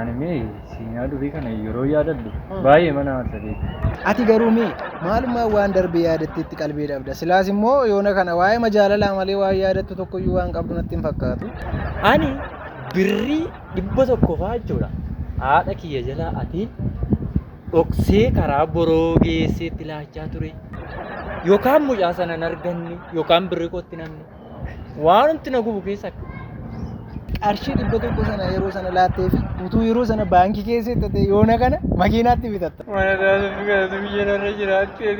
Ani mee seenaa durii kana yeroo yaadadhu baay'eema na aarsa beekta. Ati garuu mee maalummaan waan darbe yaadatteetti qalbii dhabda? Silaas immoo yoona kana waa'eema jaalalaa malee waan yaadattu tokkoyyuu waan qabdu natti hin fakkaatu. Ani birrii dhibba tokko fa'aa jechuudha haadha kiyya jalaa atiin dhoksee karaa boroo geesseetti laachaa ture. Yookaan mucaa sana hin arganne yookaan birrii kootti hin hafne. Waanumti na gubu keessa qarshii dhibba tokko sana yeroo sana laattee fi utuu yeroo sana baankii keessa hin ta'e yoona kana makiinaatti bitatta. Mana taasifni kanatu biyya narra jiraattee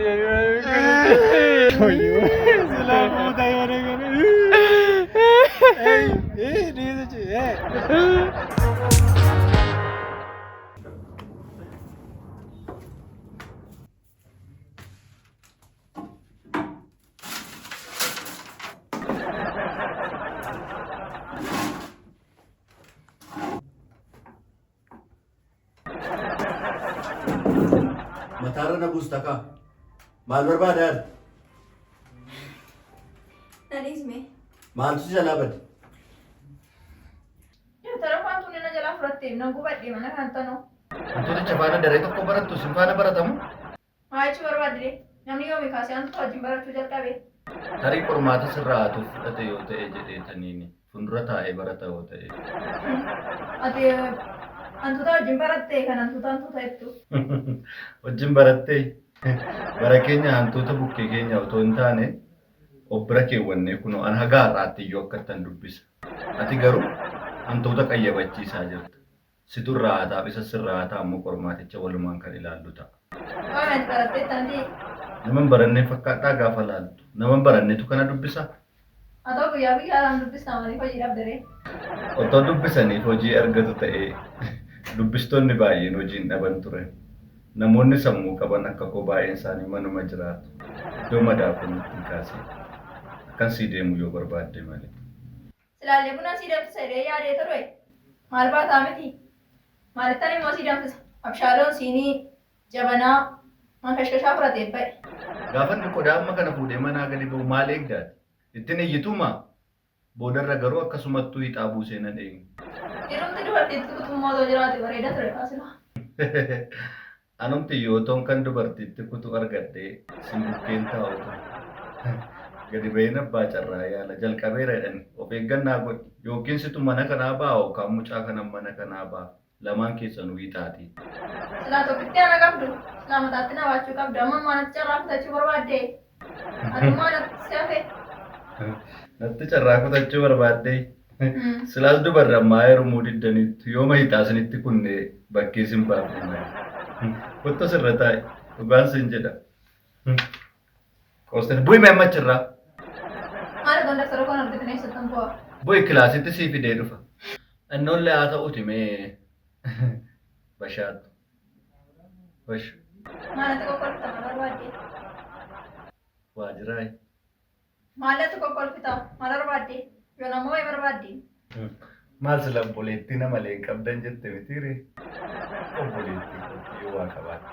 Mataarra na buusta kaa. Maal barbaadaa? Nadhiis mee. Maaltu si jalaa bade? Dabtara faatu nana jalaa fudhattee na gubadhe mana kan tanoo. Wantoota jabaana daree tokko barattu sin faana baratamu. Maa jechuu barbaaddi ree? Namni yoomii kaasee antu wajjin barachuu jalqabe? Tarii qormaata sirraa ati fudhate yoo ta'e jedheetaniini. Fundura taa'ee barata yoo ta'e. Ati hantuuta wajjin baratte kan hantuuta hantuuta jettu. Wajjin barattee? Bara keenya hantuuta bukkee keenya otoo hin taane of bira keewwannee kunoo an haga har'aatti iyyuu akkattan dubbisa. Ati garuu hantuuta qayyabachiisaa jirta. Situ irraa haa taa'u, isas sirraa haa taa'u moo qormaaticha walumaan kan ilaallu ta'a? Waan ati baratteettan ati. Nama hin baranneen fakkaadhaa gaafa laaltu? Nama hin barannetu kana dubbisa? Otoo guyyaa guyyaadhaan dubbistaa maaliif hojii dhabde ree? Otoo dubbisanii hojii argatu ta'ee dubbistoonni baay'een hojii hin dhaban ture. Namoonni sammuu qaban akka koo baay'een isaanii manuma jiraatu. Iddoo madaa koo natti hin kaasiin. Akkan sii deemu yoo barbaadde malee. Silaallee bunaa sii danfisa jedhee yaadee ture. Maal baataa miti? Maalittan immoo sii danfisa. Abshaaloon siinii, jabanaa, mankashkashaa fudhatee ba'e. Gaafa inni qodaa amma kana fuudhee manaa gadi ba'u maal eegda ati? Ittin iyyituumaa? Boodarra garuu akkasumattuu hixaa buusee nan eegne. Dhiirumti dubartiitti kutummoo otoo jiraate bareeda ture kaa silaa. Anumtiyyuu otoon kan dubartiitti kutu argadhee sin bukkeen taa'u ture. Gadi baheen abbaa carraa yaala jalqabeera jedhani of eeggannaa godhi yookiin situ mana kanaa baha yookaan mucaa kanan mana kanaa baha lamaan keessanuu hiixaatii. Silaa tokkittii ana qabdu silaa mataatti na baachuu qabda amma ammaa natti carraa kutachuu barbaaddee? Anumaa natti shafe. Natti carraa kutachuu barbaaddee. Silaas dubarri ammaa heerumuu diddaniittu yoo mahitaa isinitti kunne bakkee sin baafne malee. Kottu sirra taa'i. Dhugaan sin jedha. Qoostani bu'i mee amma achirraa. Maal ganda siroo kan argite neessa tan bu'a. Bu'i kilaasitti sii fidee dhufa. Innoollee haa ta'uti mee bashaadhu. Wash. Maalatu kokkolfita maal barbaadde? Waajiraay. Maalatu kokkolfita maal barbaadde? Yoon ammoo wayi barbaadde. Maal sila obboleettii nama leen qabdan jette mitiire? Obboleettii kootii yoo waa qabaatte.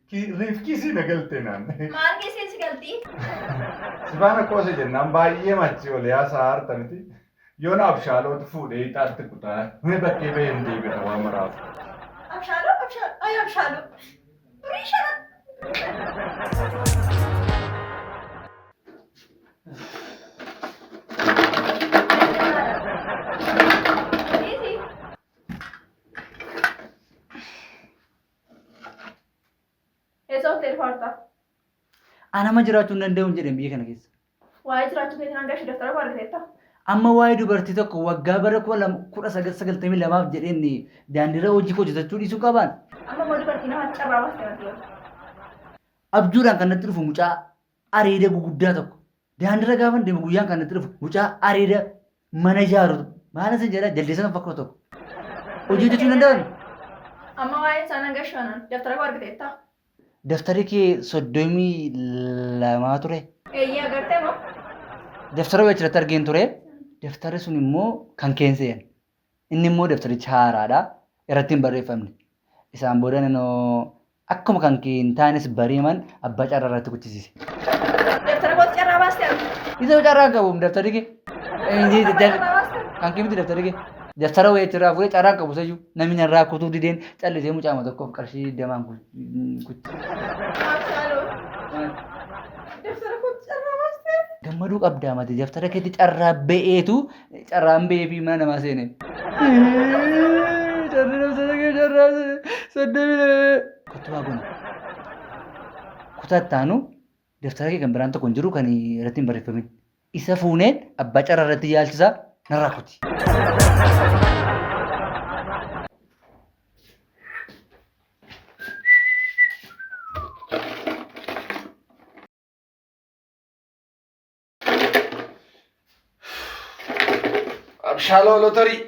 Ki riifkii sii na galtee naan. Maal geessee si galti? Sifaana qoose jennaan baay'ee machi ol yaasaa harta miti. Yoona abshaalootu fuudhee ixaatti kutaa. Mee bakkee bahee hin deebi'a waa maraafu. Abshaaloo abshaaloo ay abshaaloo. Durii shana. Dhiisi. Eessa ooltee dhufa hartaa? Anama jiraachuu hin danda'u hin jedhan biyya kana keessa. Waa'ee jiraachuu keetiin hanga ishee daftara barreessetta. Amma waa'ee dubartii tokko waggaa bara kuma lama- kudha sagal sagaltamii lamaaf jedheen daandiirra hojii koo hojjetachuu dhiisuu qabaan Amma immoo dubartii namatti carraa baastee natti himta. abjuudhaan kan natti dhufu mucaa areeda guguddaa tokko daandirra gaafan deemu guyyaan kan natti dhufu mucaa areeda mana ijaaru maala sin jedha jaldeessa kan fakkaatu tokko hojii hojjechuu hin danda'an Amma waa'ee isaa nan gashoonan daftara koo argiteetta. daftari kee soddomii lamaa ture Eeyyee agartee moo? daftara wayachirratti argeen ture daftari sun immoo kan keense'en Inni immoo dabtaricha haaraadha. Irratti hin barreeffamne. Isaan booda nanoo akkuma kan kee hin taanes bariiman abbaa carraa irratti kuchisiise. Dabtara kootti carraa baaste argu. Isa carraa qabu dabtari kee. Kan kee miti dabtari kee. Dabtara wayii achirraa fuudhee carraa qabu sayyuu namni narraa kutuu dideen callisee mucaama tokkoof qarshii digdamaan kutti. Dabtara kootti carraa baaste. Gammaduu qabdaa mati dabtara keetti carraa ba'eetu Carraan ba'ee fi mana namaa seene. Carraa namsata kee carraa soddomii lama. Kottu waa gona. Kutaa itti aanu daftara kee kan biraan tokko hin jiru kan irratti hin barreeffamin. Isa fuunee abbaa carraa irratti yaalchisaa narraa kuti. Abshaaloo lotarii.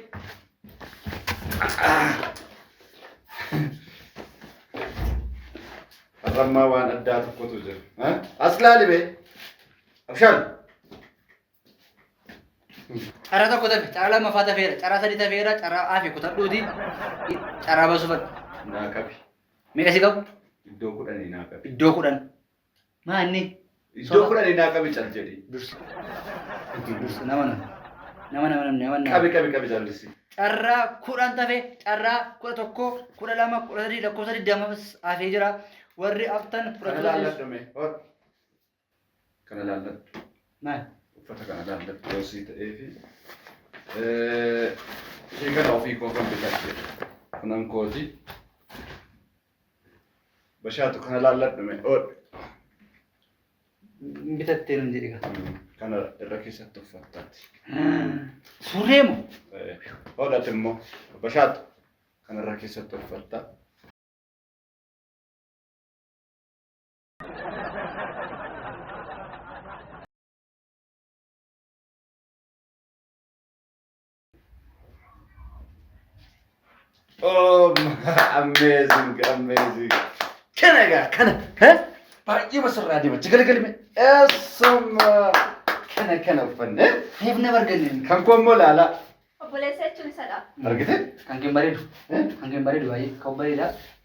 Arrammaa waan addaa tokkotu jira. Ha? As laali bee. Abshaal. Carraa tokko tafe, carraa lammaffaa tafeera, carraa sadii tafeera, carraa hafe kutadhuuti carraa baasuu fadha. Naa qabi. Meeqa si qabu? Iddoo kudhanii naa qabi. Iddoo kudhan. Maa inni? Iddoo Soba. kudhanii naa qabi cal jedhi. Dursi. Hojii dursi nama nama. Nama nama namni nama nama. Qabi qabi qabi callissi. Carraa kudhan tafe carraa kudha tokko kudha lama kudha sadii lakkoofsa digdama hafee jira. Warri aftan Kana fudhachuu laalladhu dandeessu. mee. Hor. Kana laalladhu. Maal? Uffata kana laalladhu yoo sii ta'ee fi. Ishee kana ofii koo kan bitadhe. Kunan kooti. Bashaatu kana laalladhu mee oodhu. Bitattee nan jedhe gaa. Kana irra keessatti uffattaati. Surree moo? Oodhati immoo bashaatu kana irra keessatti uffatta. Oh, amazing, amazing. Kana egaa kana. Hee? Baay'ee masarraa deema. Jigalagalme. Eessuma. Kana kana uffanne. Reef nama arganne. Kan koo immoo laalaa. Obboleessa jechuun isadha. Argite? Kan keen bareedu. Kan keen bareedu baay'ee. Kan bareedaa.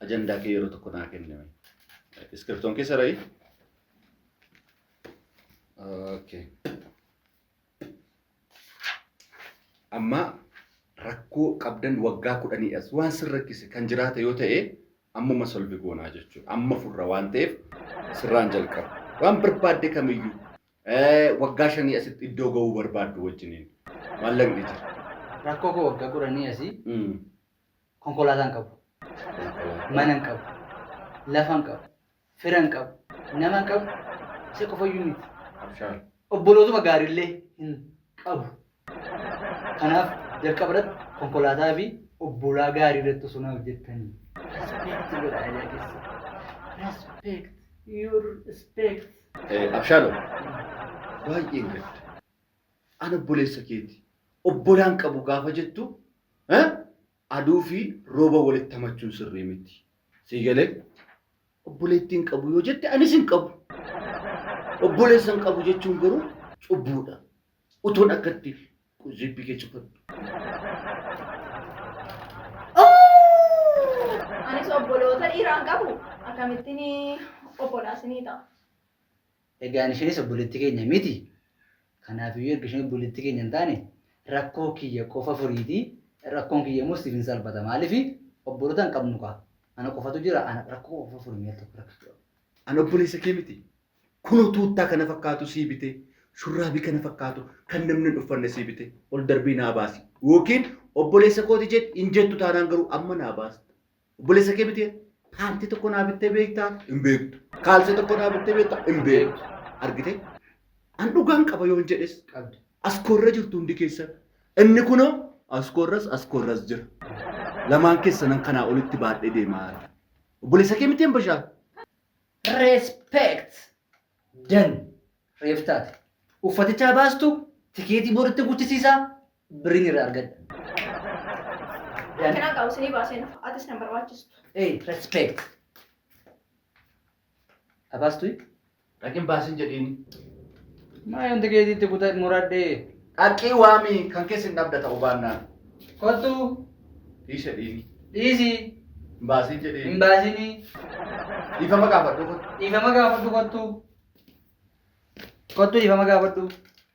Ajandaa kee yeroo tokko naa kenni mee. Iskiriptoon kee sara'i. Okay. Amma rakkoo qabdan waggaa kudhanii as waan sin rakkise kan jiraate yoo ta'e ammuma solvi goonaa jechuudha. Amma furra waan ta'eef sirraan jalqaba. Waan barbaadde kamiyyuu eh, waggaa shanii asitti iddoo ga'uu barbaaddu wajjiniin maallaqni jira. Rakkoo koo waggaa kudhanii asii Mm. Konkolaataa hin qabu. Mana hin qabu. Lafa hin qabu. Fira hin qabu. Nama hin qabu. Isa qofayyuu miti. Abshaal. Obbolootuma gaariillee hin qabu. Kanaaf jalqaba irratti konkolaataa fi obbolaa gaarii irratti osoo na hojjettanii. Respect godha aadaa keessa. Respect. Your respect. Eh, Abshaalom. Baay'een gadda. An obboleessa keeti. Obbolaa hin qabu gaafa jettu aduu fi rooba walitti hamachuun sirrii miti. Sii galee? Obboleettii hin qabu yoo jette anis hin qabu. Obboleessa hin qabu jechuun garuu cubbuudha. Utuun akkatti zibbii kee cufadhu. Anis obboloota dhiiraa hin qabu. Akkamittiin obbolaas ni ta'a. Egaan isheenis obboleettii keenya miti. Kanaafiyyuu erga isheen obboleettii keenya hin taane rakkoo kiyya qofa furiiti, rakkoon kiyya immoo siif hin salphata. Maaliif obboloota hin qabnu kaa. Ana qofatu jira, ana rakkoo qofa furi mee al tokko rakkachuu qaba. Ani obboleessa kee miti. Kunoo tuuttaa kana fakkaatu sii bitee, shurraabii kana fakkaatu kan namni hin uffanne sii bitee ol darbii naa baasi. Yookiin obboleessa kooti jedhi hin jettu taanaan garuu amma naa baasta. Obboleessa kee bitee paantii tokko naa bittee beektaa? Hin beektu. Kaalsee tokko naa bittee beektaa? Hin beektu. Argitee? An dhugaan qaba yoon jedhes Qabdi. as koorra jirtu hundi keessan. Inni kunoo as koorras as koorras jira. Lamaan keessanan kanaa olitti baadhee deemaa jira. Obboleessa kee miteen bashaan? Respect. Dan. Reeftaati. Uffatichaa baastu tikeetii booditti guchisiisaa Birriin irraa argadha. Kanaa qabu sinii baaseen atis nan barbaachisu. Hey, respect. Abaastui? Dhaqin baasin jedhiin. Maa yoon tikeetiitti kutaa muradhee. Dhaqii waami kan keessa hin dhabda ta'u baannaan. Kottu Dhiise dhiini. dhiisi Baasin hin jedhiin. baasini Dhiifama gaafadhu kun. dhiifama gaafadhu kottu. Kottu dhiifama gaafadhu.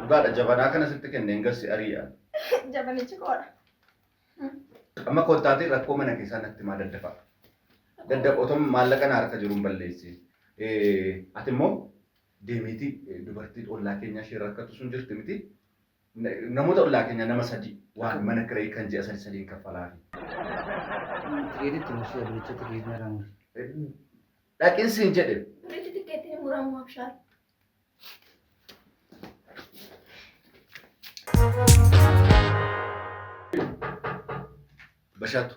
Dhugaadha jabanaa kana sitti kenneen gassi ari'a. Jabanichi koodha. Amma kottaatii rakkoo mana keessaa natti maa daddafa. Dadda otom maallaqa na harka jiruun balleessi. Ati immoo deemiitii dubartii ollaa keenyaa ishee rakkatu sun jirti miti. Namoota ollaa keenyaa nama sadii waan mana kirayii kan ji'a sadi sadiin kaffalaafi. Tikeetitti mursi aduucha tikeetii narraa muri. Dhaqin siin jedhe. Miti tikeetiin hin muramu abshaar. Bashaatu.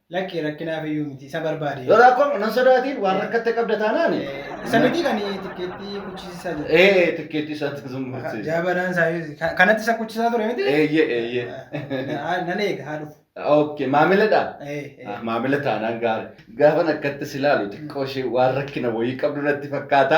Lakki rakkinaaf iyyuu miti isa barbaade. Yoo rakkoon nan sodaatiin waan rakkatte qabda taanaan. Isa miti kan tikkeettii kuchisiisaa jiru. Ee tikkeettii isaa tikkeettii isaa. Jaabanaan isaa kanatti isa kuchisaa ture miti. Eeyyee eeyyee. Nan eega haa dhufu. Okay, maamiladha. Maamila taanaan gaarii. Gaafan akkatti si ilaalu xiqqoo ishee waan rakkina wayii qabdu natti fakkaata.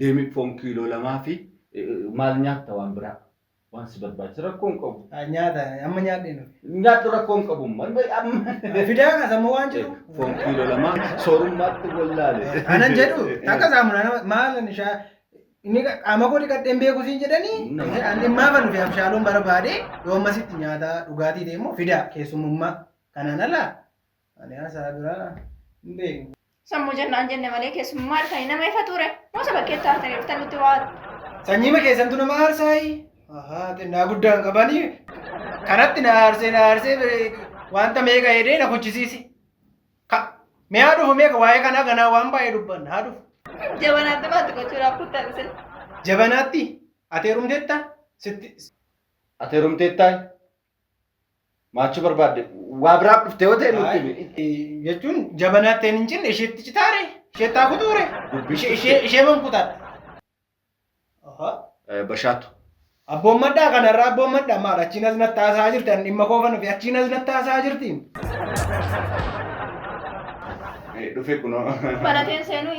Deemi foon kiiloo lamaa fi maal nyaatta waan biraa waan si barbaachisa rakkoo hin qabu. Ah, Nyaata amma nyaadheen dhufe. Nyaadhu rakkoo hin qabu man bay amma. Fidaa kaas amma waan jedhu. Foon kiiloo lamaa soorummaatti wallaale. Anan jedhu takka saamunaa nama maal ani shaa inni qaama koo dhiqadheen beeku siin jedhanii Nama. an dhimmaa kan dhufe abshaaloon barbaade yoo ammasitti nyaata dhugaatii deemu fidaa keessumummaa kanaan ala Ani haasaa biraa hin beeku. Sammuu jennaan jenne malee keessummaa harkanii nama ifa ture. Moosa bakkeetti haartanii dhuftan nutti waa. Sanyiima keessantu nama haarsaayi. Ahaa xinnaa guddaan qabani. Kanatti na haarsee na haarsee bire- wanta meeqa hedee na kuchisiisi. Ka mee haa dhufu meeqa waa'ee kanaa ganaa waan baay'ee dubbanna haa dhufu. Jabanaatti maatti gochuudhaaf kuttan isin. Jabanaatti ati heerumteetta sitti Ati heerumteettaa? Maachuu barbaadde waa biraaf dhufte yoo ta'e nutti himi. Jechuun jabanaatti hin cinne isheetti citaare isheetti haa kutuure ishee ishee ishee man kutaadha. Eh, Bashaatu. Abboon maddaa kanarraa abboon maddaa maal achiin as natti haasa'aa jirti ani dhimma koofan fi achiin as natti haasa'aa jirti. Eh, Dhufe kunoo. Banateen seenuu.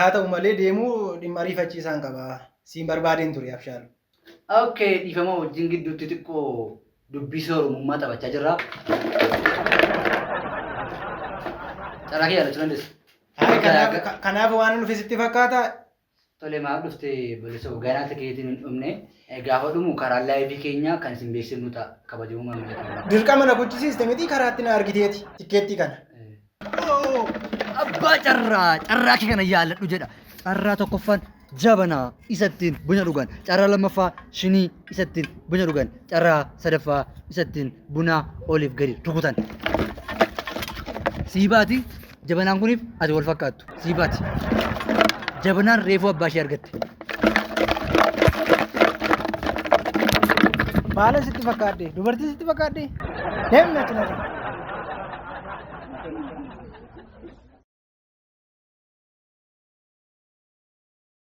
Haata'u malee deemuu dhimma ariifachiisaan qaba. Siin barbaadeen ture Abshaal. Ok dhiifama wajjin gidduutti xiqqoo dubbii soorumummaa taphachaa jirra. Carraa kee yaadachuu dandeessa. Hayi kanaaf ka- kanaaf waan nufi sitti fakkaata. Tole maaf dhufte bal'isoo ganaa ta'eetiin hin dhumne gaafa dhumu karaa laayivii keenya kan isin beeksifnu ta'a kabajamoo maamila keenya. Dirqama na gochisiiste miti karaatti na argiteeti tikkeettii kana. Abbaa carraa carraa kee kana yaaladhu jedha. Carraa tokkoffaan jabanaa isattiin buna dhugan. Carraa lammaffaa shinii isattiin buna dhugan. Carraa sadaffaa isattiin buna oliif gadi rukutan. Sii baati jabanaan kuniif ati wal fakkaattu. sii baati. Jabinaan reefuu abbaa ishee argatte. Baala sitti fakkaadde. Dubartii sitti fakkaadde. Deemna achi laata.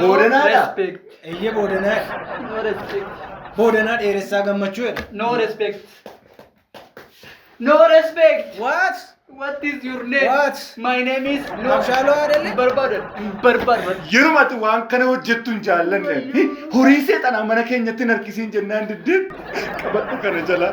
Boodanaadha. respect. Eeyyee boodanaa. No respect. Boodanaa dheeressaa gammachuu jedha. No respect. No respect. What? What is your name? What? My name is no. Abshaaloo Adelee? Barbaadan. Barbaadan. Yeruma ati waan kana hojjettu hin jaallanne. Hi, Horii seexanaa mana keenyatti hin harkisiin jennaan diddeen qabadhu kana jala.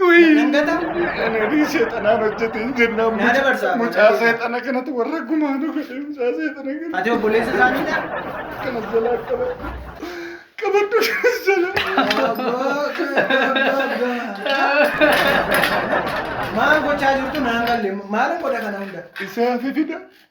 Nan gata. Ananii seexanaan hojjete hin jennaan Naa dabarsaa. mucaa seexana kanatti warra gumaa nu godhe mucaa seexana kana Ati obboleessa isaaniidha. kana jalaa qabadhu qabadhu kanas jalaa. Maal gochaa jirtu naan galle maal godha kana hunda. Isaa fi fida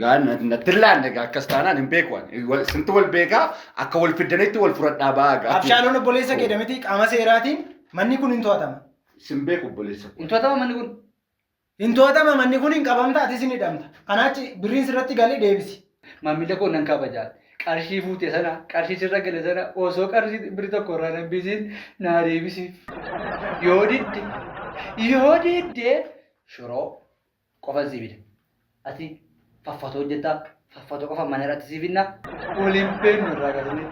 Gaa na- natti hin laanne gaa akkas taanaan hin beeku ani. Wal- Sintu wal beekaa akka wal fiddanitti wal fudhadhaa ba'aa gaa. Abshaalon obboleessa kee damitii qaama seeraatiin manni kun hin to'atama. Sin beeku obboleessa. koo. Hin to'atama manni kun. Hin to'atama manni kun hin qabamta atis hin hidhamta. Kanaachi birriin sirratti galee deebisi. Maamila koo nan kabajaa. Qarshii fuute sana, qarshii sirra gale sana osoo qarshii birri tokko irraa nan bisiin naa deebisiif. Yoo didde, yoo didde shiroo qofan sii bita. Ati faffatoo hojjetta faffatoo qofa mana irratti sii binna waliin beeknu irraa galanee.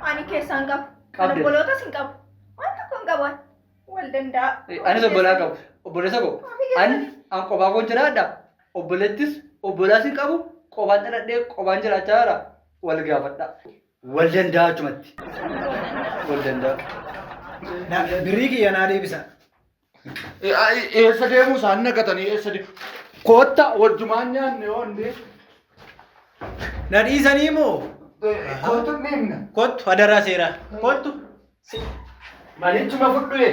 Ani keessaa hin qabu. Kan Qabde. obbolootas hin qabu. Waan tokko hin qabu. Wal danda'a. Anis obbolaa qabu. Obboleessa koo. An an qofaa koon jiraadha. Obboleettis obbolaas hin qabu. Qofaan dhaladhee qofaan jiraachaa jira. Wal gaafadha. Wal danda'a achumatti. Wal danda'a. Na- Birrii kiyya naa deebisa. Eessa deemuu isaan naqatanii eessa deemu? Kootta wajjumaan nyaanne oonne. Na dhiisanii moo? Kootu ni himna. Kottu hadaraa seeraa. Kottu. Manichuma fudhu ee.